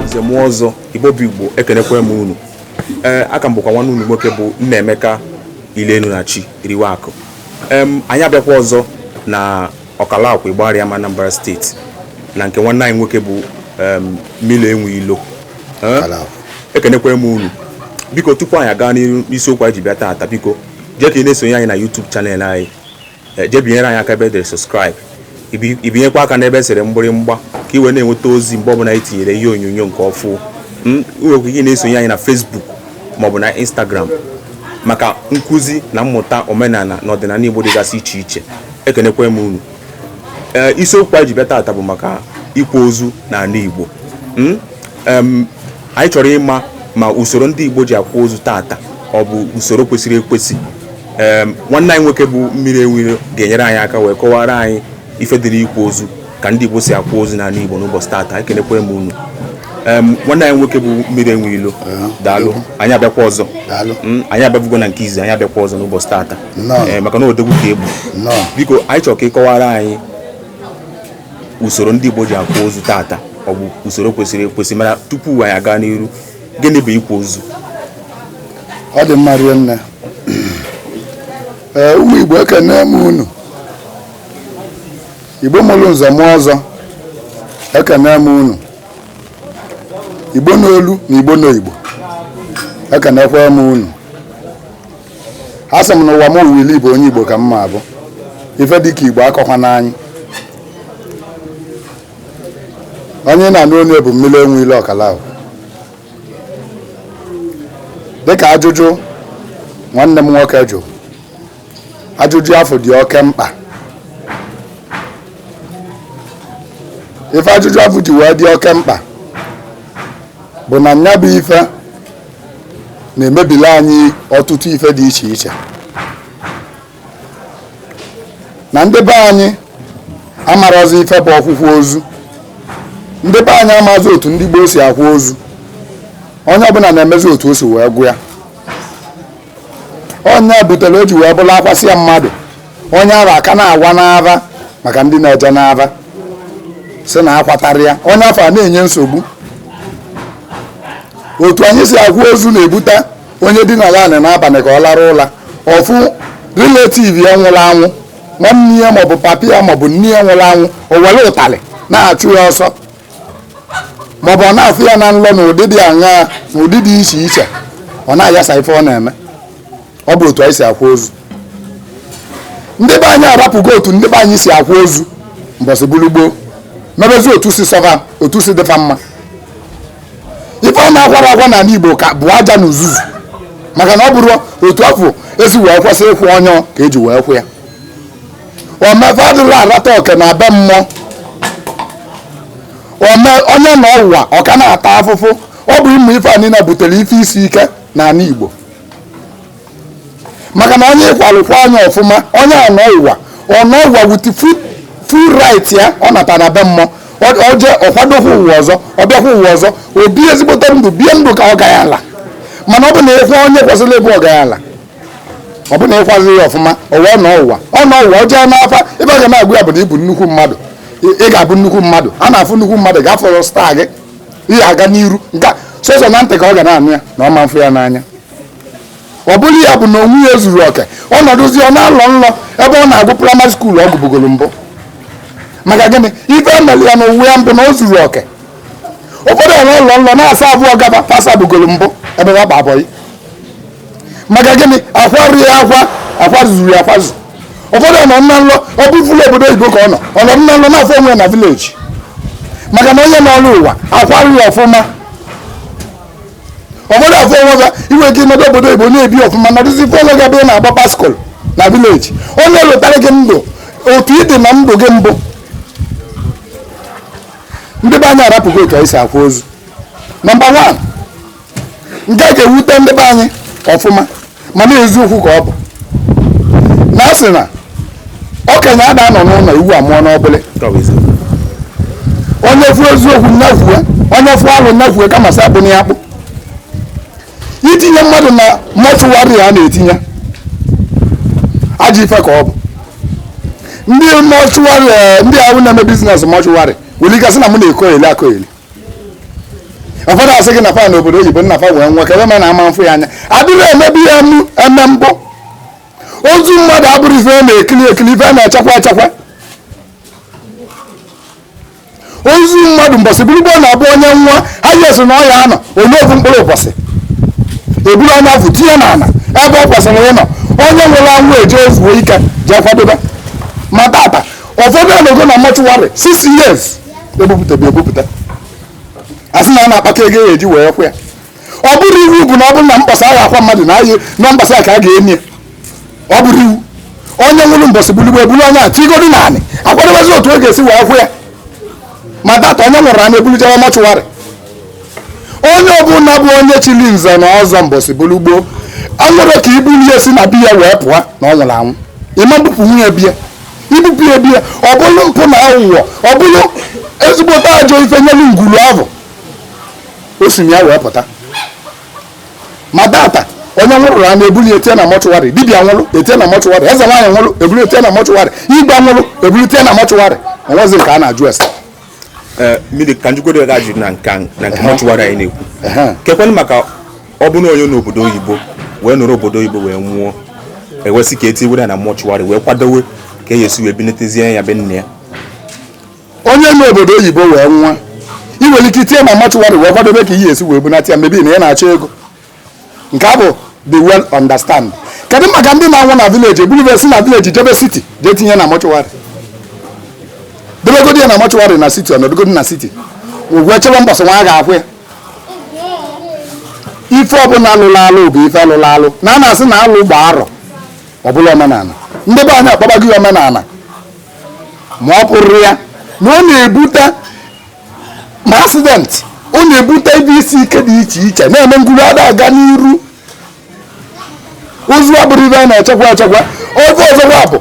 nze mụọ ọzọ igbo bụ igbo ekenekwa m unu ee a ka m bụkwa nwanne unu nwoke bụ Nnaemeka Ilenu na chi riwe akụ em anyị abịakwa ọzọ na Ọkalakwu Igbariam Anambra steeti na nke nwanne anyị nwoke bụ em Mmili enwe ilo Eh, Ọkalakwu. ekenekwa m unu biko tupu anyị aga n'isiokwu anyị ji bịa taata biko jee ka ị na-esonye anyị na YouTube channel anyị eh, jee binyere anyị aka ebe edere subscribe i binyekwa aka n'ebe esere mgbịrịmgba ka ị wee na-enweta ozi mgbe ọbụla anyị tinyere ihe onyonyo nke ọfụ hmm, ị nwekwa ike na-esonye anyị na Facebook maọbụ na Instagram maka nkụzi na mmụta omenala na ọdịnala Igbo dịgasị iche iche ekenekwa m unu ee eh, isiokwu anyị ji bịa taata bụ maka ịkwa ozu n'ala Igbo hmm? Anyị chọrọ ịma ma usoro ndị Igbo ji akwa ozu tata ọ bụ usoro kwesịrị ekwesị nwanne anyị nwoke bụ mmiri enwe ilo ga-enyere anyị aka wee kọwara anyị ife dịrị ịkwa ozu ka ndị Igbo si akwa ozu n'ala Igbo n'ụbọchị tata ekenekwa m unu nwanne anyị nwoke bụ mmiri enwe ilo daalụ anyị abịakwa ọzọ hmm, anyị abịabugo na nke izi anyị abịakwa ọzọ n'ụbọchị tata maka na odogwu ka ị bụ biko anyị chọrọ ka ị kọwara anyị usoro ndị Igbo ji akwa ozu tata ọ bụ usoro kwesịrị ekwesị mana tupu anyị aga n'iru gịnị bụ ịkwa ozu ọ dị mma rinne ee ụmụ Igbo ekene m unu Igbo mụrụ nze mụọ ọzọ ekene m unu Igbo n'olu na Igbo n'Igbo ekenekwa m unu a sị m na ụwa m ụwa ili bụ onye igbo ka m ma abụ ife dịka igbo akọkwana anyị onye na-anụ onu ya bụ mmiri enwe ilo Ọkalakwu dịka ajụjụ nwanne m nwoke jụ ajụjụ afụ dị oke mkpa ife ajụjụ afụ ji wee dị oke mkpa bụ na nya bụ ife na-emebili anyị ọtụtụ ife dị iche iche na ndị be anyị amarọzị ife bụ ọkwụkwa ozu ndị be anyị amazi otu ndị gboo si akwa ozu onye ọbụla na-emezi otu o si wee gụ ya ọ nya butere o ji wee bụrụ akwasịa mmadụ onye afụ a ka na-awa n'ava maka ndị na-eje n'ava sị na akwatarọ ya onye afụ a na-enye nsogbu otu anyị si akwa ozu na-ebute onye dinara anị n'abalị ka ọ larụ ụla ọ fụ relative ya nwụrụ anwụ nwanne ya maọbụ papa ya maọbụ nne ya nwụrụ anwụ o were ụtalị na-achụ ya ọsọ maọbụ ọ na-afụ ya na nlọ na ụdị a na ụdị dị iche iche ọ na-ayasa ife ọ na-eme ọ bụ otu anyị si akwa ozu ndị be anyị arapụgo otu ndị be anyị si akwa ozu mbọsị bụrụ gboo mebezi otu si sọ fa otu si dị fa mma ife ọ na-akwara akwa n'ala Igbo ka bụ aja na uzuzu maka na ọ bụrọ otu afụ esi wee kwesị ịkwa onye ka eji wee kwa ya omefe adịla arata oke na be mmụọ ome onye nọ ụwa ọ ka na-ata afụfụ ọ bụ ụmụ ife a niile butere ife isi ike n'ala Igbo maka na onye ị kwalụkwa nya ọfụma onye a nọ ụwa ọ nọ ụwa with full right ya ọ nata na be mmụọ o je ọ kwadokwa ụwa ọzọ ọ bịakwa ụwa ọzọ o bie ezigbote ndụ bie ndụ ka ọgaranya mana ọ bụ na ị kwa onye kwesịrị ịbụ ọgaranya ọ bụ na ị kwazirọ ya ọfụma ụwa ọ nọ ụwa ọ nọ ụwa o jee n'afa ife a ga na-agwa ya bụ na ị bụ nnukwu mmadụ ị ga-abụ nnukwu mmadụ a na-afụ nnukwu mmadụ ga-afọrọ staa gị ihe aga n'iru nke sọsọ na ntị ka ọ ga na-anụ ya na ọ ma mfụ ya n'anya ọ bụ ya bụ na ụwa ya ezurọ oke ọ nọdụzi ọ na-alọ nlọ ebe ọ na-agụ praịmarị skuulu ọ gụbugoro mbụ maka gịnị ife emere ya na ụwa ya mbụ na o zurọ oke ụfọdụ ọ na-alọ nlọ na-asa abụọ gaba pasa bugoro mbụ ebe ha kpa abọghị maka gịnị akwarọ ya akwa akwazurọ ya akwazu ụfọdụ ọ nọ na nlọ ọ bụ fulu obodo oyibo ka ọ nọ ọ nọ na nlọ na-afụ onwe ya na vileji maka na onye nọrọ ụwa akwarọ ya ọfụma ụfọdụ afụ onwe ga iwe gị nọdụ obodo oyibo na-ebi ọfụma nọdụzi ị fụ onwe gị ebe ị na-agba baịsịkụl na vileji onye lụtara gị ndụ otu ị dị na ndụ gị mbụ ndị be anyị arapụgo otu anyị si akwa ozu nọmba wan nke a ga-ewute ndị be anyị ọfụma mana eziokwu ka ọ bụ na a sị na okenye ada anọ n'ụlọ ewu amụọ n'ọgbụlị onye fụ eziokwu nya kwue onye fụ alụ nya kwue kama sị akpụna ya akpụ itinye mmadụ na mọchụwarị a na-etinye ajọ ife ka ọ bụ ndị mọchụwarị eh, ndị ahụ na-eme biznes mọchụwarị nwere ike sị na m na-ekogheli akogheli ụfọdụ asị gị na fa nọ obodo oyibo nna fa wee nwụọ ka ebe ma na-ama mfụ ya anya adịrọ emebu ya eme mbụ ozu mmadụ abụrụ ife a na-ekili ekili ife a na-echekwa echekwa ozu mmadụ mbọsị bụrụ gboo na-abụ onye nwụọ highest na ọ ya-anọ only ofu mkpụrụ ụbọchị eburu onye afụ tinye na ala ebe o kwesịrị ịnọ onye nwụrụ anwụ eje zuo ike jee kwadobe ma tata ụfọdụ anọgo na mọchụwarị 6 years ebupụtabe ebupụta asị na a na-akpata ego eji wee kwa ya ọ bụrọ iwu bụ na ọ bụrụ na mbọsị a ga-akwa mmadụ na anyị na mbọsị a ka a ga-eni ya ọ bụrọ iwu onye nwụrụ mbọsị bulu gboo ebulu onye a tigodi n'anị akwadobezi otu a ga-esi wee kwa ya ma tata onye nwụrụ a na-ebuli jewe mọchụwarị onye ọbụla bụ onye chili nze na ọzọ mbọsị bulu gboo a nụrọ ka ebuli ya si na be ya wee pụọ na ọ nwụrụ anwụ ị ma-ebupụnwu ya be ya ibupụ ya be ya ọ bụrụ mpụ na aghụghọ ọ bụrụ ezigbote ajọ ife nyelu ngwulu ahụ o si na ya wee pụta ma tata onye nwụrụ a na-ebuli etinye na mọchụwarị dibịa nwụrụ etinye na mọchụwarị eze nwaanyị nwụrụ ebuli etinye na mọchụwarị igwe nwụrụ ebuli etinye na mọchụwarị o nwezi nke a na-ajụ ese eh, mmiri ka njikwa ga ajụ na nke na nke mọchụwarị anyị na-ekwu kekwanụ maka ọ bụrụ onye n'obodo oyibo wee nọrọ obodo oyibo wee nwụọ e wee sị ka etiwere na mọchụwarị wee kwadowe ka a ya-esi wee bunatazie ya be nna ya onye nọ obodo oyibo wee nwụọ ị nwere ike itinye na mọchụwarị wee kwadobe ka ị ya-esi wee bunata ya maybe na ị na-achọ ego nke ahụ dị well understand kedu maka ndị na-anwụ na vileji eburu si na vileji jebe siti jee tinye na mọchụwarị debegodi ya na mọchụwarị na siti ọ nọdụgodi na siti wee chebe mbọsị nwa a ga-akwa ya ife ọbụla alụla alụ bụ ife alụla alụ na a na-asị na alụ gbaa arọ ọ bụlụ omenala ndị be anyị akpọbago ya omenala ma ọ pụrọ ya na ọ na-ebute ma asidenti ọ na-ebute ife isi ike dị iche iche na-eme ngwulu ada aga n'iru ozu abụrụ ife a na-echekwa echekwa ofu ọzọkwa bụ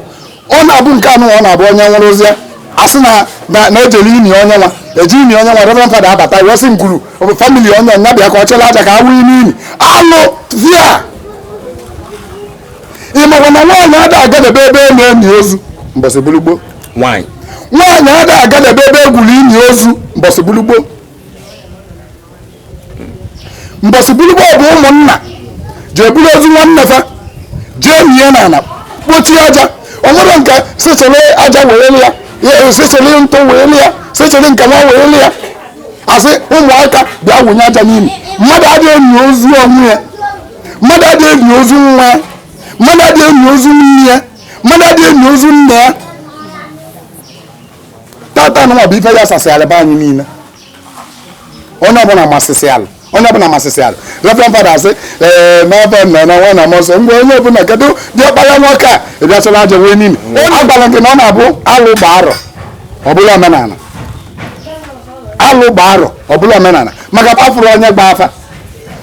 ọ na-abụ nke anụ ọ na-abụ onye nwụrụzia a sị na ejele ini onye nwa eji ini onye nwa reverend fada abata wee sị ngwulu famili onye nya bịa ka ọ chịlị aja ka a wụ ime ini alụ via ị makwa na nwaanyị ada agadebe ebe a na-eni ozu mbọsị bulu gboo nwaanyị ada agadebe ebe egwuru ini ozu mbọsị bulu gboo mbọsị bulu gboo bụ ụmụnna jee buru ozu nwanne fa jee nie n'ala kpochie aja o nwere nke sị chịrị aja wee lịa sị chịrị ntụ wee lịa sị chịrị nke nwa wee lịa a sị ụmụaka bịa wụnye aja n'ime mmadụ adịghị eni ozu onwe ya mmadụ adịghị eni ozu nwa ya mmadụ adịghị eni ozu nne ya mmadụ adịghị eni ozu nna ya tata anụnwa bụ ife ya asasịala be anyị niile onye ọbụla masịsị alụ onye ọbụla masịsị alụ reverend fada asị ee n'afa nna na nwa na mmụọ nsọ mgbe onye ọbụla kedu diọkpara nwoke a ị bịa chịrị aja wụnye n'ime agwara gị na ọ na-abụ alụ gbaa arọ ọ bụlụ omenala alụ gbaa arọ ọ bụlụ omenala maka afụrọ onye gba afa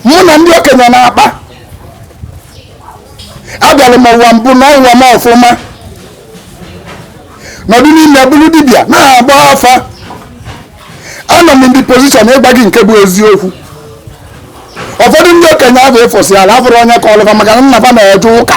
mụ na ndị okenye na-akpa abịara m ụwa mbụ na ụwa m ọfụma nọdụ n'ime bụrụ dibịa na-agba afa anọ m in the position ịgwa gị nke bụ eziokwu ụfọdụ ndị okenye ahụ efusịala afụrọ onye kọọlụ fa maka na nna fa na-eje ụka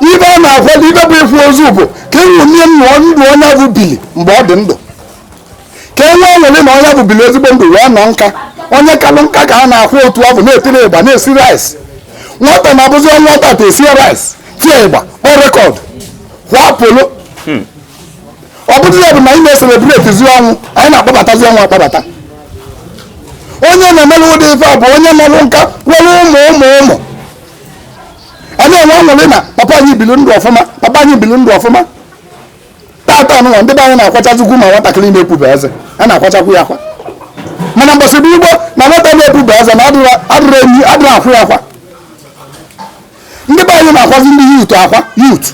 ife a na-akwado ife bụ ịkwa ozu bụ ka e ṅomie ndụ onye ọ bụ bili mgbe ọ dị ndụ ka e nwee ọṅụrị na onye ọ bụ bili ezigbo ndụ wee nọ nka onye kalụ nka ka a na-akwa otu afụ na-etiri ịgba na-esi rice nwata na-abụzi ọ nwụa tata esi rice tie ịgba kpọ record kwa polo hmm. ọ bụrụ ya bụ na anyị na-eselebretizi ọnwụ anyị na-akpọbatazi ọnwụ akpọbata onye na-emere ụdị ife a bụ onye nọrụ nka nwere ụmụ ụmụ ụmụ a na-enwe ọṅụrị na papa anyị biri ndụ ọfụma papa anyị biri ndụ ọfụma tata nụnwa ndị be anyị na-akwachazikwu ma nwatakịrị na-epube eze a na-akwachakwu ya akwa mana mbọsị bụ gboo na nwata na-epube eze na adịrọ enyi adịrọ akwa ya akwa ndị be anyị na-akwazi ndị youth akwa youth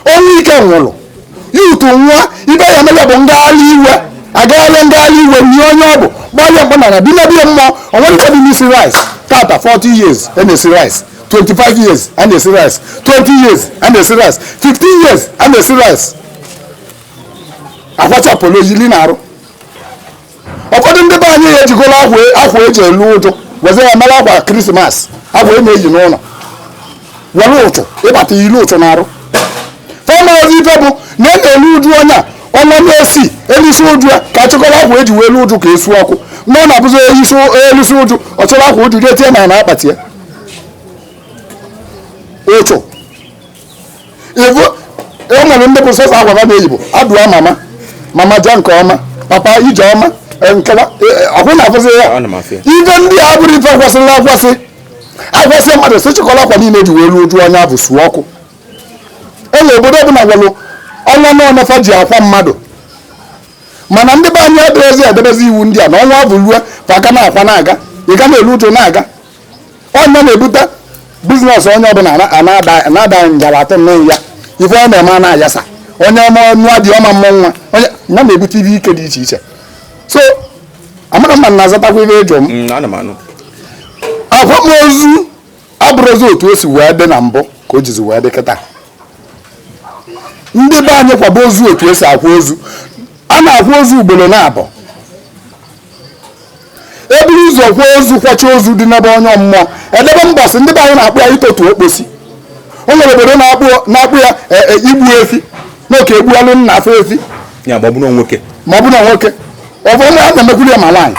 o nwee nke nwụrụ youth nwa ife ya mere bụ ngagharị iwe agagharị ngagharị iwe nie onye ọ bụ gbalịa mkpa nara bi mebie mmụọ o nwerọ ife dị n'isi rice tata 40 years a na-esi rice 25 years a na-esi rice 20 years a na-esi rice 15 years a na-esi rice akwacha polo yili n'arụ ụfọdụ ndị be anyị ejigoro akwa eji elu uju wezie ya mere akwa Christmas akwa e na-eyi n'ụlọ were ụchụ yibata yilu ụchụ n'arụ fa amarọzị ife bụ na e na-elu uju onye a ọnwa na-esi elusịa uju ya ka achịkọrọ akwa eji wee lu uju ka esu ọkụ na ọ na-abụzi elusịa uju ọ chịrị akwa uju jee tinye na na akpati ya ụchụ ivu e nwere ndị bụ sọsọ akwa ha na-eyi bụ adieu mama mama jee nke ọma papa ije ọma e, nkewa e, e, ọkwụ na-afụsị ya ife ndị a bụrụ ife kwesịrị akwasịa akwasịa mmadụ si chịkọrọ akwa niile ji wee ruo uju onye ọ bụ suo ọkụ enwe obodo ọbụla gwalụ ọnwa one fa ji akwa mmadụ mana ndị be anyị adịrịzi edebezi iwu ndị a na ọnwa bụ rue fa aka na-akwa na-aga ị ga na-elu uju na-aga ọ ya na-ebute business onye ọbụla na-ada ngala atọ nne ya ife ọ na-eme a na-ayasa onye ọma nwa dị ọma mmụ nwa ọ ya na-ebute ife ike dị iche iche so amara mma na-azatakwa ife ọjọọ m mm, akwamozu abụrụzi otu o si wee dị na mbụ ka o jizi wee dị kịta ndị be anyị kwaba ozu otu esi akwa ozu a na-akwa ozu ugboro naabọ eburu ụzọ kwa ozu kwacha ozu dinebe onye mmụọ edebe mbọsị ndị be anyị na-akpọ ya itotu okposi o nwere obodo na-akpọ ya e, e, igbu efi na oke egbualụ nna afụ efi ma ọ bụ na nwoke ma ọ bụ na nwoke ọ bụ onye a na-emekwuru ya ma nwaanyị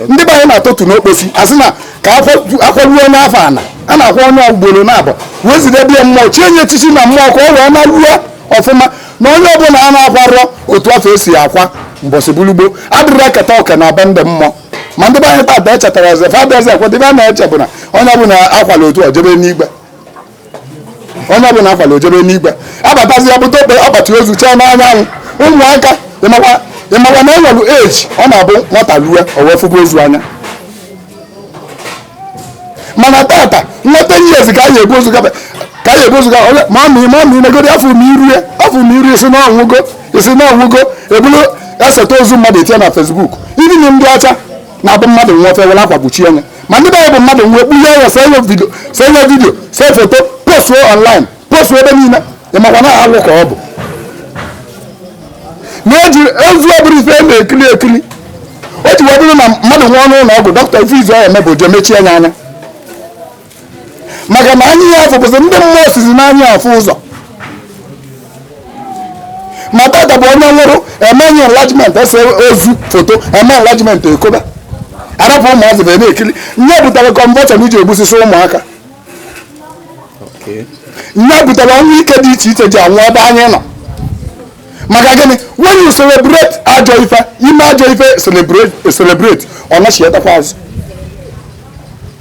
ndị be anyị na-atọtụ okposi asị na ka akwaruo onye afụ ana a na-akwa onye ugboro naabọ wee zidebe ya mmụọ chie nye echichi na mmụọ ka ọ wee naruo ọfụma na onye ọbụla a na-akwarọ otu afụ esi akwa mbọsị bulu gboo adịrọ eketa oke na be ndị mmụọ ma ndị be anyị tata echetarọzị fa bịazi ekwe dịbe a na-eche bụ na onye ọbụla akwala otu o jebe n'igwe onye ọbụla akwala o jebe n'igwe abatazi ya bute akpa akpati ozu chee n'anya ụmụaka ịmakwa ịmakwa na enwelu age ọ na-abụ nwata lue o wee fụba ozu anya mana tata nwata ten years ka anyị ebu ozu gaba ka anyị ebu ozu gaba onye ma ma ma ma negodi afụ m iru ya afụ m iru ị sị na ọ nwụgo ị sị na ọ nwụgo ebulu eseta ozu mmadụ etinye na Facebook even ndị ọcha na-abụ mmadụ nwụọ fa were akwa kpuchie nye ma ndị be bụ mmadụ nwụọ ekpulie ya see ya video see ya video see foto postuo online postuo ebe niile ịmakwa na alụ ka ọ bụ na eji ozu ọ bụrụ ife a na-ekiri ekiri o ji wee bụrụ na mmadụ nwụọ n'ụlọ ọgwụ dọkịta ife izizi ọ ya-eme bụ je mechie nye anya maka na anya ya afụ bụzi ndị mmụọ sizi n'anya afụ ụzọ ma tata bụ onye nwụrụ eme nye enlargement ese ozu foto eme enlargement ekoba arapụ ụmụazị na-ekiri nye butere convulsion ji egbusisi ụmụaka nye butere ọnwụ ike dị iche iche ji anwụ ebe anyị nọ maka gịnị when you celebrate ajọ ife ime ajọ ife celebrate ọ nachiatakwa azụ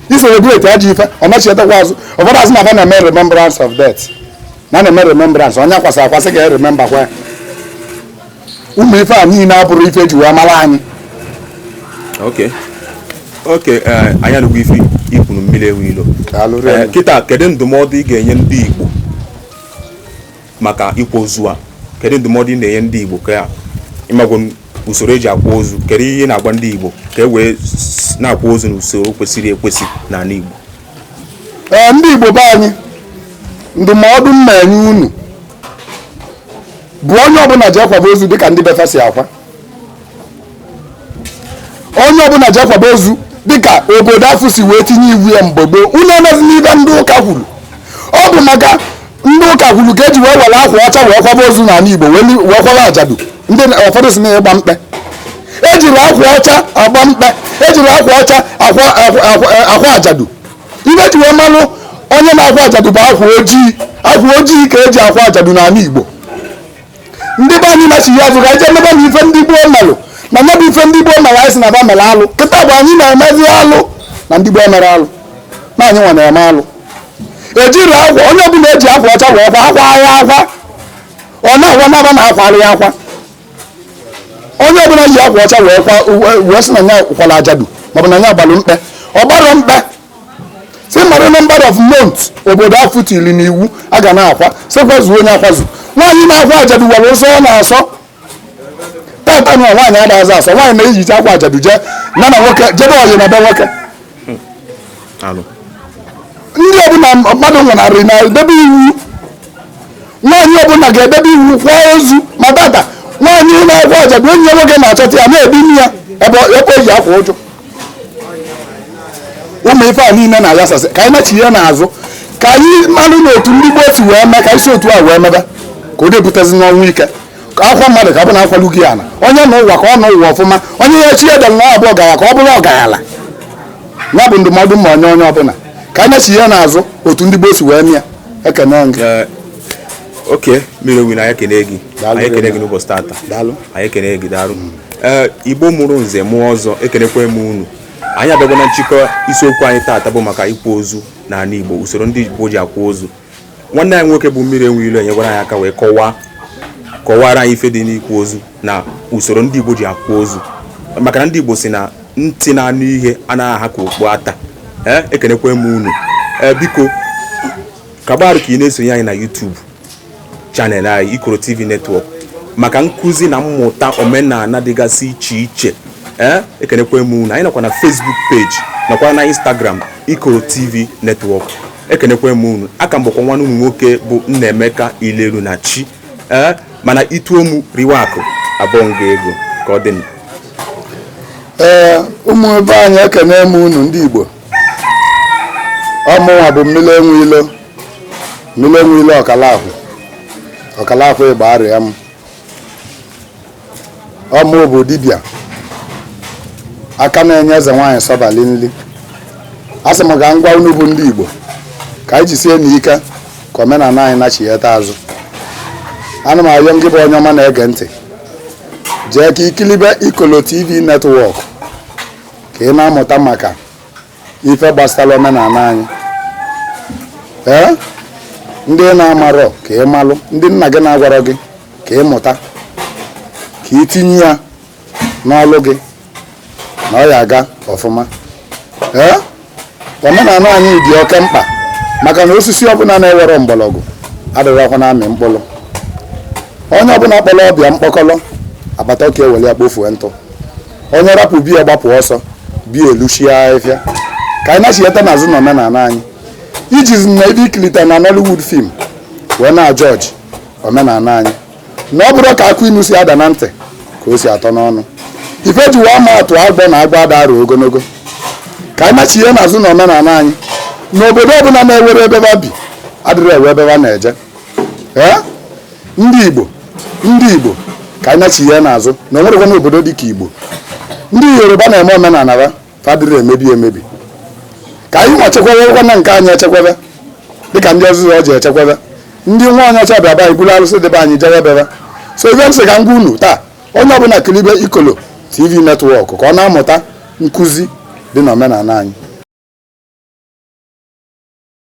ị celebrate ajọ ife ọ nachiatakwa azụ ụfọdụ asị na fa na-eme remembrance of death na na-eme remembrance onye akwasị akwasị ga-erememba kwa ya ụmụ ife a niile abụrụ ife eji wee mara anyị okay okay eh, anyị anụgwo ife i kwuru mmiri enwe ilo eh, kịta kedu ndụmọdụ ị ga-enye ndị Igbo maka ịkwa ozu a kedu ndụmọdụ ị na-enye ndị Igbo ka ị magwo usoro eji akwa ozu kedu ihe ị na-agwa ndị Igbo ka e wee na-akwa ozu n'usoro kwesịrị ekwesị n'anị Igbo ee ndị Igbo be anyị ndụmọdụ m na-enye unu bụ onye ọbụla je kwaba ozu dịka ndị be fa si akwa onye ọbụla je kwaba ozu dịka obodo afụ si wee tinye iwu ya mgbe gboo unu emezina ife ndị ụka kwuru ọ bụ maka ndị ụka kwuru ka eji wee were akwa ọcha wee kwaba ozu n'anị Igbo wee kwaba ajadu ndị ụfọdụ sị na ịgba mkpe ejirọ akwa ọcha agba mkpe ejirọ akwa ọcha akwa ajadu ife eji wee malụ onye na-akwa ajadu bụ akwa ojii akwa ojii ka eji akwa ajadu n'anị Igbo ndị be anyị nachigha azụ ka anyị jee mebe na ife ndị gboo melụ na mebe ife ndị gboo mere anyị sị na ba mere alụ kịta bụ anyị na-emezi alụ na ndị gboo mere alụ na anyị nwa na-eme alụ ejiri akwa onye ọbụla eji akwa ọcha wee kwa akwa ya akwa ọ na-akwa naba na akwara ya akwa onye ọbụla ji akwa ọcha wee kwa wee sị na ya kwara ajadu maọbụ na ya gbalụ mkpe ọ gbarọ mkpe si mara number of months obodo afụ tiri n'iwu a ga na-akwa sị kwazuo onye akwazuo nwaanyị na-akwa ajadu nwere nsọ ọ na-asọ tata na nwaanyị adazị asọ nwaanyị na-eyicha akwa ajadu jee na na nwoke jebe ọyị na be nwoke ndị ọbụla mmadụ nwụnarị na-edebe iwu nwaanyị ọbụla ga-edebe iwu kwa ozu ma tata nwaanyị na-akwa ajadu enyi ya nwoke na-achọta ya na-edine ya ebe o ji akwa uju ụmụ ife a niile na-ayasasị ka anyị nachighe n'azụ ka anyị marụ na otu ndị gboo si wee mee ka e si otu a wee mebe ka o depụtazi n'ọnwụ ike ka a kwaa mmadụ ka ọ bụ na a kwalụ gị ala onye nọ ụwa ka ọ nọ ụwa ọfụma onye chi delụ na ọ bụ ọgaranya ka ọ bụrụ ọgaranya ya bụ ndụmọdụ m na-enye onye ọbụla ka anyị nachighe n'azụ otu ndị gboo si wee mee ya ekene m gị oke mmiri enwe ilo anyị ekene gị anyị ekene gị n'ụbọchị tata anyị ekene gị daalụ mm. eh, igbo mụrụ nze mụọ ọzọ ekenekwa m unu anyị abịagwa na nchịkọ isiokwu anyị tata bụ maka ịkwa ozu n'ala igbo usoro ndị igbo ji akwa ozu nwanne anyị nwoke bụ mmiri enwe ilo enyegwara anyị aka wee kọwaa kọwara anyị ife dị n'ịkwa ozu na usoro ndị igbo ji akwa ozu maka na ndị igbo sị na ntị na-anụ ihe anaghị aha ka okpu ata eh, ekenekwa m unu eh, biko Ka ọ bụrụ ka ị na-esonye anyị na YouTube channel anyị Ikoro TV Network maka nkụzi na mmụta omenala dịgasị iche iche ee eh, ekenekwa m unu anyị nọkwa na Facebook page nakwa na Instagram Ikoro TV Network ekenekwa m unu aka m bụkwa nwanne unu nwoke bụ Nnaemeka Ilelunachi ee eh, mana i tuo m riwe akụ abụọ nga ego ka ọ dị m ee eh, ụmụ ebe anyị ekene m unu ndị Igbo ọmụnwa bụ mmiri enwe ilo mmiri enwe ilo ọkala Ọkalakwu Igbariam ọ mụ bụ dibịa aka na-enye eze nwaanyị sọbali nri a sị m ka m gwa unu bụ ndị igbo ka anyị jisie n'ike ka omenala anyị nachigheta azụ ana m ayọ ngị bụ onye ọma na-ege ntị jee ka i kilibe ikolo tv network ka ị na-amụta maka ife gbasara omenala anyị ee ndị ị na-amarọ ka ị malụ ndị nna gị na-agwarọ gị ka ị mụta ka ị tinye ya n'ọlụ gị na ọ ya aga ọfụma ee omenala anyị dị oke mkpa maka na osisi ọbụla na-enwerọ mgbọrọgwụ adịrọkwa na-amị mkpụrụ onye ọbụla kpọrọ ọba ya mkpọkọrọ agbata ọka ewere ya kpofuo ntụ onye rapụ be ya gbapụ ọsọ be ya eluchie ahịfịa ka anyị na-achịghata n'azụ na omenala anyị ejizina ife ị kilita na Nollywood film wee na-ajọji omenala anyị na ọ bụrọ ka akụ inu si ada na ntị ka o si atọ n'ọnụ ife ji wee ma atụ agbọ na agba ada arụ ogologo ka anyị na-achịghe n'azụ na omenala anyị na obodo ọbụla na-enwerọ ebe ba bi adịrọ enwe ebe ba na-eje ee ndị igbo ndị igbo ka anyị na-achịghe n'azụ na o nwerọkwanụ obodo dị ka igbo ndị yoruba na-eme omenala ha fa adịrọ emebi emebi ka anyị nwa chekwabekwa na nke anyị echekwebe dịka ndị ọzọzọ ọ ji echekwebe ndị nwa onye ọcha bịa be anyị buru arụsị dị be anyị jewe be ba so ife m sị ka m gwa unu taa onye ọbụla kilibe ikolo tv netwọk ka ọ na-amụta nkụzi dị n'omenala anyị